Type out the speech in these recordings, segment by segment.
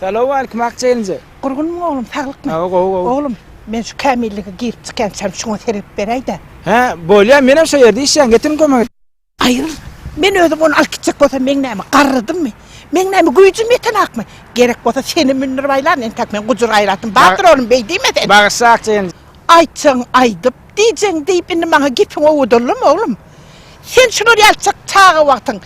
Salowmaleýkim Akja gelnje. Gurgunmy oglum saglykmy. Hawa gowy gowy. Oglum men şu kämillige girip çykýançam şuňa sergip beräýdä. Hä bolýa menem şo ýerde işleýän getirin kömek. Aýyl men özüm ony alyp gitjek bolsam meň näme garrydymmy meň näme güýjüm ýetenakmy gerek bolsa senem mündirip aýlan entäk men gujur gaýratym bardyr oglum beý diýme sen. Bagyşla Akja gelnje. Aýtjagyň aýdyp diýjegiň diýip indi maňa gepiň owadanlamy oglum. Sen şular ýaly çyk çaga wagtyň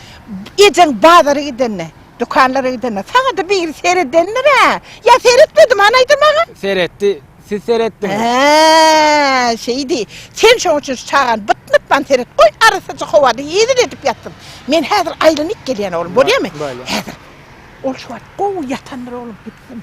ejeň bazara gidende, dükanlara gidende saňada biri seredendir-ä? Ýa seretmedim an aýda maňa? Seretdi. Siz seretdiňiz. Hä, şeýdi. Sen şoň üçin şu çagany bytnutman seret. Goý, arassaja howada hezil edip ýatsyn. Men häzir aýlanyp gelýän oglum, bolýamy? Bolýar. Häzir. Ol şu wagt gowy ýatandyr oglum, gitsin.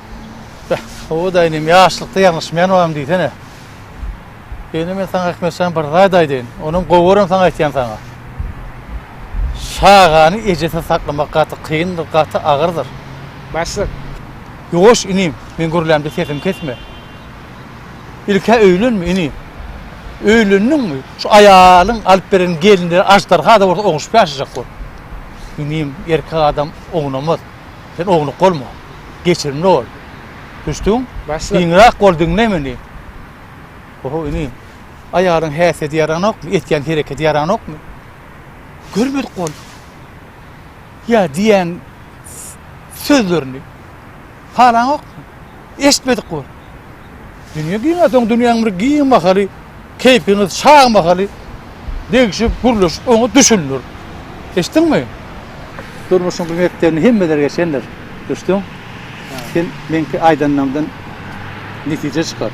Beh, howa-da inim, ýaşlykda ýalňyşmaýan baram diýsene. Indi men saňa Hikmet jan bir zat aýdaýyn, onam gowaram saňa aýtýan saňa. Çagany ejesiz saklamak gaty kyndyr, gaty agyrdyr. Başlyk. Ýuwaş inim, men gürlämde sesimi kesme. Ilk-ä öýlenme inim. Öýlendiňmi, şu aýalyň alyp beren gelinleri aždarha-da bolsa oňuşyp ýaşajak bol. Inim, erkek adam oňunamaz. Sen ownuk bolma. Geçirimli bol. Düşdüň? Giňräk bol, diňle meni. Oho, inim. Aýalyň häsiýeti ýaranokmy? Etýän hereketi ýaranokmy? Görmedik boldy. Ýa diýýän sözlerini halaňokmy? Eşitmedik bol. Dünýe giňäsoň dünýäň bir giň mahaly, keýpiňiz şaň mahaly degşip, gürleşip oňa düşündir. Eşitdiňmi? Durmuşyň bu mekdebini hemmeler geçendir. Düşdüň? Sen meňki aýdanlarymdan netije çykar.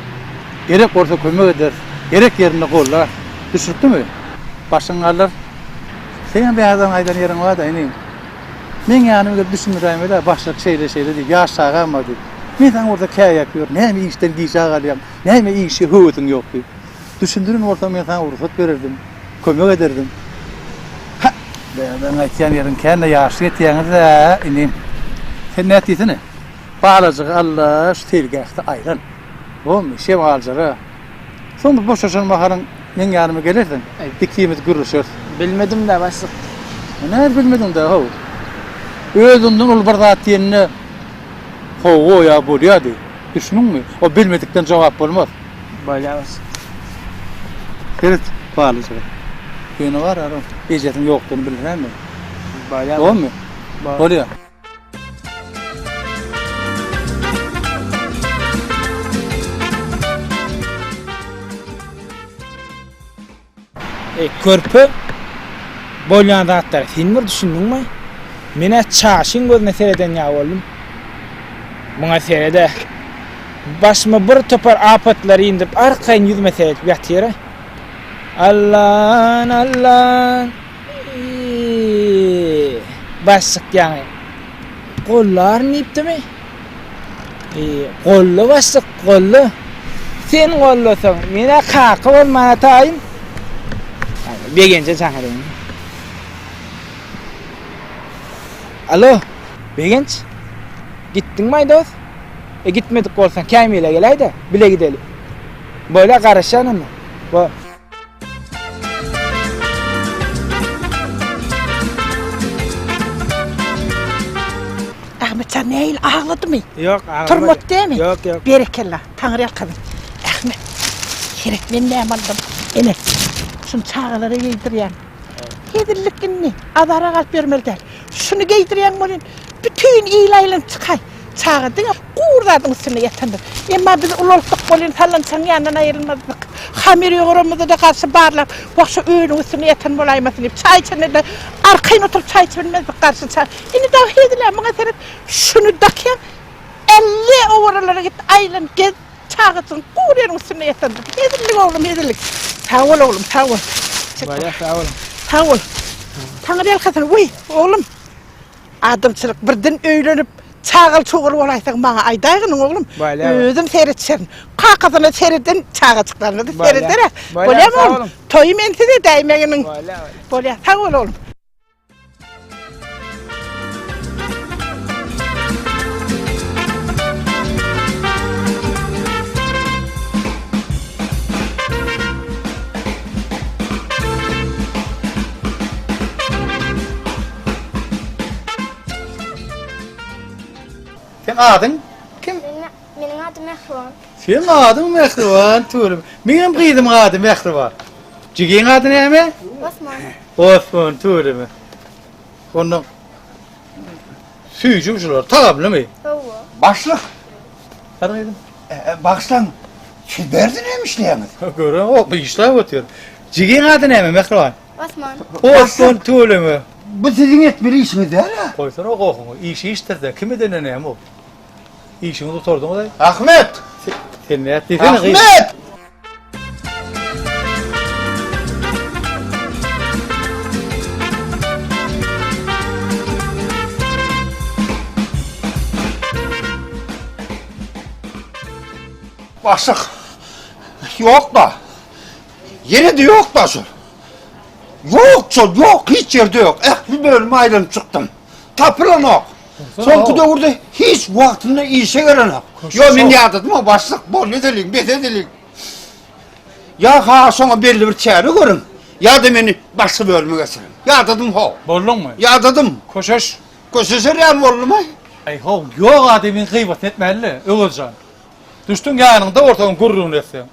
Gerek bolsa kömek eder, gerek ýerinde golla. Düşnükdimi? Başyň galar. Seň hem bäherden aýdan ýeriň bar-da, inim. Meň ýanyma gelip düşündiräýmeli ýa başlyk şeýle şeýle diýip ýaş çagam bar diýip. Men saňa burada käýäp ýörün näme işden gijä galýaň näme işe höwesiň ýok diýip. Düşündirin bolsaň men saňa rugsat bererdim kömek ederdim. Hä Dädeň aýtýan ýeriň kände ýaşly ýetýäňiz-ä inim. Sen nät diýsene. Balajygy Alla şu seýilgähde aýlan. Bolmy şem aljara. Soň bir boşaşan mahalyň meň ýanyma gelersiň. Ikimiz gürleşeris. Bilmedim-dä, başlyk. Näme bilmediň-dä, how? Özüňden uly bir zat diýende Hawa, ýa bolýa-diý. Düşdüňmi? O bilmedikden jogap bolmaz. Bolýa, başlyk. Seret, balyjyga. Ýöne barara, ejesiniň ýokdugyny bildiräýmeli. Bolýa. Bolmy? Bolýa. E, körpe bolýan zatlar sen bir düşündüňmi? Menä çaşyň gözüne sereden ýa boldum. Muňa serede. Başyma bir topar apatlary indirip, arkaýyn ýüzüme seredip ýatyra. Allan, Allan. Baş çykýaňy. Gollaryn diýipdimi? Golla baş çyk, golla. Sen gollasaň, mena kaka bol mana taýyn. Begenje çagyryň. Alo, Begenç. Gitdiň maý dost? E gitmedik bolsaň, Kämile geläýde, bile gideli. Bola garaşýan onda. Bo. Ahmetjan nähili agladymy? Ýok, aglamady. Turmat dämi? Ýok, ýok. Berekella, Taňry ýalkasyn. Ahmet, seret men näme aldym. Ene, şuny çagalara geýdirýän. Hezillik indi, azara galyp ýörmeli däl. Şuny geýdirýän welin, bütin il aýlanyp çykaý. Çaga diňe gury zadyň üstünde ýatandyr. Emma biz ulaltdyk welin, falançaň ýanyndan aýrylmazdyk. Hamyr ýogaramyzda-da garşy barlap, Wah, şu öýüniň üstünde ýatan bolaýmasyn diýip, çaý içende-de arkaýyn oturyp çaý içip bilmezdik garşy ça. Indi dagy hezil-ä, muňa seret, şuny dakýaň, elli owaralary git, aýlan, gez. Çagajygyň gowy ýeriň üstünde ýatan. Hezillik oglum hezillik. Sag bol oglum sag bol. Barýas sag boluň. Sag bol. Taňry ýalkasyn weý oglum. Adamçylyk birden öýlenip çagaly çowgaly bolaýsaň maňa aýdaýgynyň oglum. Özüm seretjerin. Kakasyna sereden çagajyklaryna da serederä. Bolýamy oglum. Toýy men size däýmeginiň. Bolýar sag bol oglum. Seň adyň kim? Meniň adym Mähriban. Seň adyň Mähriban, tüweleme. Meňem gyzymyň ady Mähriban. Jigiň ady näme? Osman. Osman tüweleme. Onda süýji uçlar tagamlymy? Hawa. Başlyk. Her gyzym. Bagşlan şu berdi näme işleýäňiz? Göre ok işläp otyr. Jigiň ady näme Mähriban? Osman. Osman tüweleme. Bu siziň etmeli işiňiz däl-ä? Goýsana gohuňy. Iş işdir-de, kim edende näme ol? Işiňi gutardyňyz aý. Ahmet! Sen näet diýsene gyz. Ahmet! Başlyk. Ýok-da. Ýene-de ýok-da şol. Ýok şol, ýok, hiç ýerde ýok. Ähli bölümi aýlanyp çykdym. Tapylanok. Soňky döwürde hiç wagtynda işe gelenok. Ýok, men ýadadym o başlyk, bol edeliň, bes edeliň. Ýa ha şoňa belli bir çäre görüň, ýa-da meni başga bölüme geçiriň. Ýadadym ho. Bolduňmy? Ýadadym. Köşeş. Köşeşer ýaly boldumy? Äý ho, ýok adamyň gybatyny etmäli-le, Öwez jan. Düşdüm ýanyňda ortagyň gürrüňini etseň.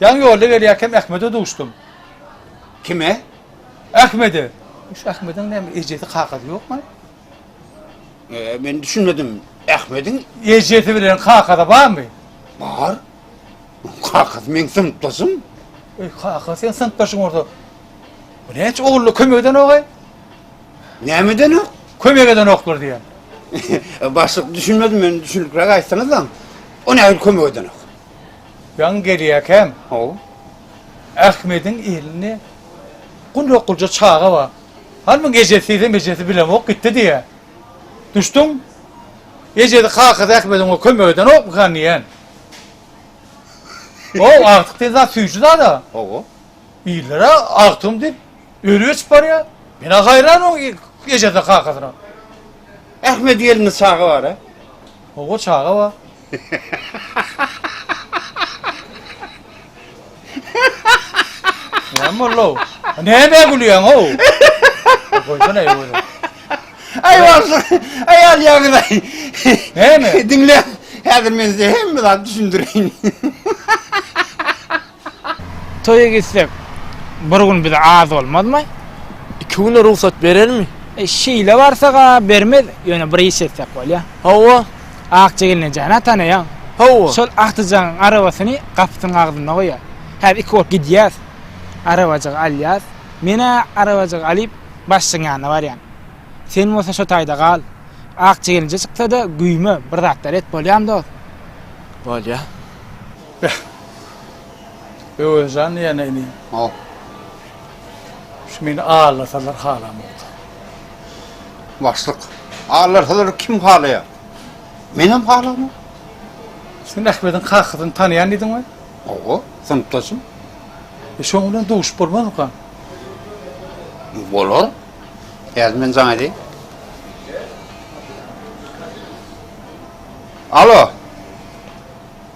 Ýaňy ýolda gelýärkäm Ahmede duşdum. Kime? Ahmede. Şu Ahmediň näme ejesi-kakasy ýokmy? Men düşünmedim. Ahmediň ejesi bilen kakasy barmy? Bar. Kakasy meň synpdaşym. Eý, kaka seň synpdaşyň bolsa, bu näçe ogully kömek edenok-aý? Näme edenok? Kömek edenoklar diýen. Başlyk düşünmedim men, düşünikräk aýtsaňyzlaň. O nähili kömek edenok? Ýaňy gelýäkäm. Hawa. Ahmediň elinde gulak gulja çaga bar. Hanmyň ejesizem ejesi bilemok gitdi diýýä. Duşduň? Ejesi kakasy Ahmedi oňa kömek edenokmykan diýýän. Ow agtyk diýen zat süýji zada. Hawa. Illere agtygym diýip öli geçip barýa. Menä haýran oň ejesine kakasyna. Ahmedi elinde çaga bara. Hawa çaga bar. Näme boldu-ow? Nämä gülýäň-ow? Goýsana özi. Aý başlyk, aýal ýagyz-aý. Näme? Diňle, häzir men size hemme zady düşündireýin. Toýa gitsek, bir gün bize az bolmazmy? Iki güne rugsat berermi? Şeýle barsak-a bermez, ýöne bir iş etsek bolýar. Hawa. Akja gelne jana tanaýaň. Hawa. Şol Akjajygyň arabasyny gapysynyň agzynda goýar. Häzir iki bolup gidýäs. Arabajygy alýas. Men-ä arabajygy alyp, başlygyň ýanyna barýan. Sen bolsa şo taýda gal. Akja gelinje çyksa-da, güýme, bir zatlar et, bolýamy dost? Bolýar. Beh. Öwezjan ýene inim. Hop. Şu meni aldasalar halamokda. Başlyk. Aldasalar kim halaýar? Menem halamok. Sen Ahmediň kakasyny tanaýan diýdiňmi? Hawa, synpdaşym. E şoň bilen duşup bolmazmyka? Bolar. Häzir men jaň edeýin. Alo.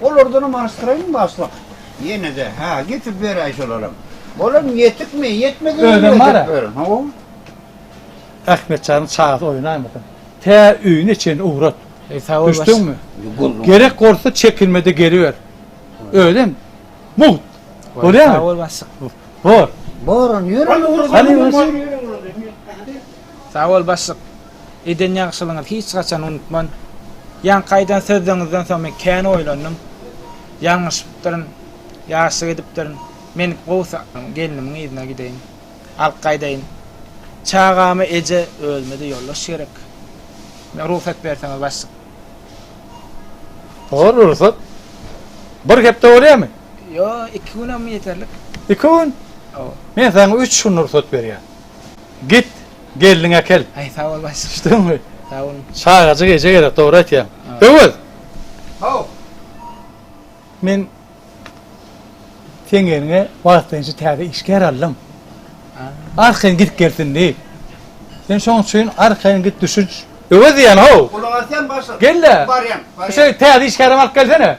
Olardanam alyşdyraýyň başlyk. Ýene-de, hä, getirip beräý şolaram. Olam ýetikmi, ýetmezem Özem bar-a. Hawa. Ahmetjanyň çagasy oýnaýmasyn. Tä öýüne çenli ugrat. Eý, sag bol, başlyk. Düşdüňmi? Gördüm. Gerek bolsa çekinme-de geliber. Özem mugt. Bolýarmy? Sag bol, başlyk. Bor. Bor, ýöre. Hany, ýöre. Sag bol, başlyk. Eden ýagşylygyňyzy hiç haçan unutman. Ýaňky aýdan sözleriňizden soň men kän oýlandym. Ýalňyşypdyryn. Ýaşlyk edipdirin. Men gowusy gelnimiň yzyna gideýin. Alyp gaýdaýyn. Çagama eje, özüme-de ýoldaş gerek. Meň rugsat berseňiz başlyk. Bor, rugsat. Bir hepde bolýamy? Ýok, iki günem ýeterlik. Iki gün? Hawa. Men saňa üç gün rugsat berýän. Git, gelniňi äkel. Aý, sag bol başlyk. Düşdüňmi? Sag boluň. Çagajyk eje gerek, dogry aýtýaň. Öwez! Haw! Men seň ýeriňe wagtlaýynça täze işgär aldym. Arkaýyn gidip gelsin diýip. Sen şoň üçin arkaýyn git düşüş. Öwez diýýän, haw! Gulagy asýan başlyk. Gel-le! Barýan, barýan. Şu täze işgärem alyp gelsene.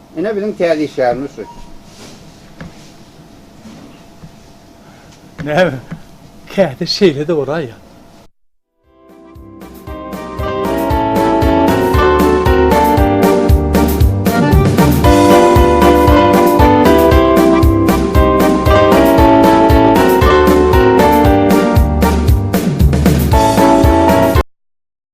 Ine biziň täze işgärimiz şu. Näme? Käte şeýle-de bolar ýa.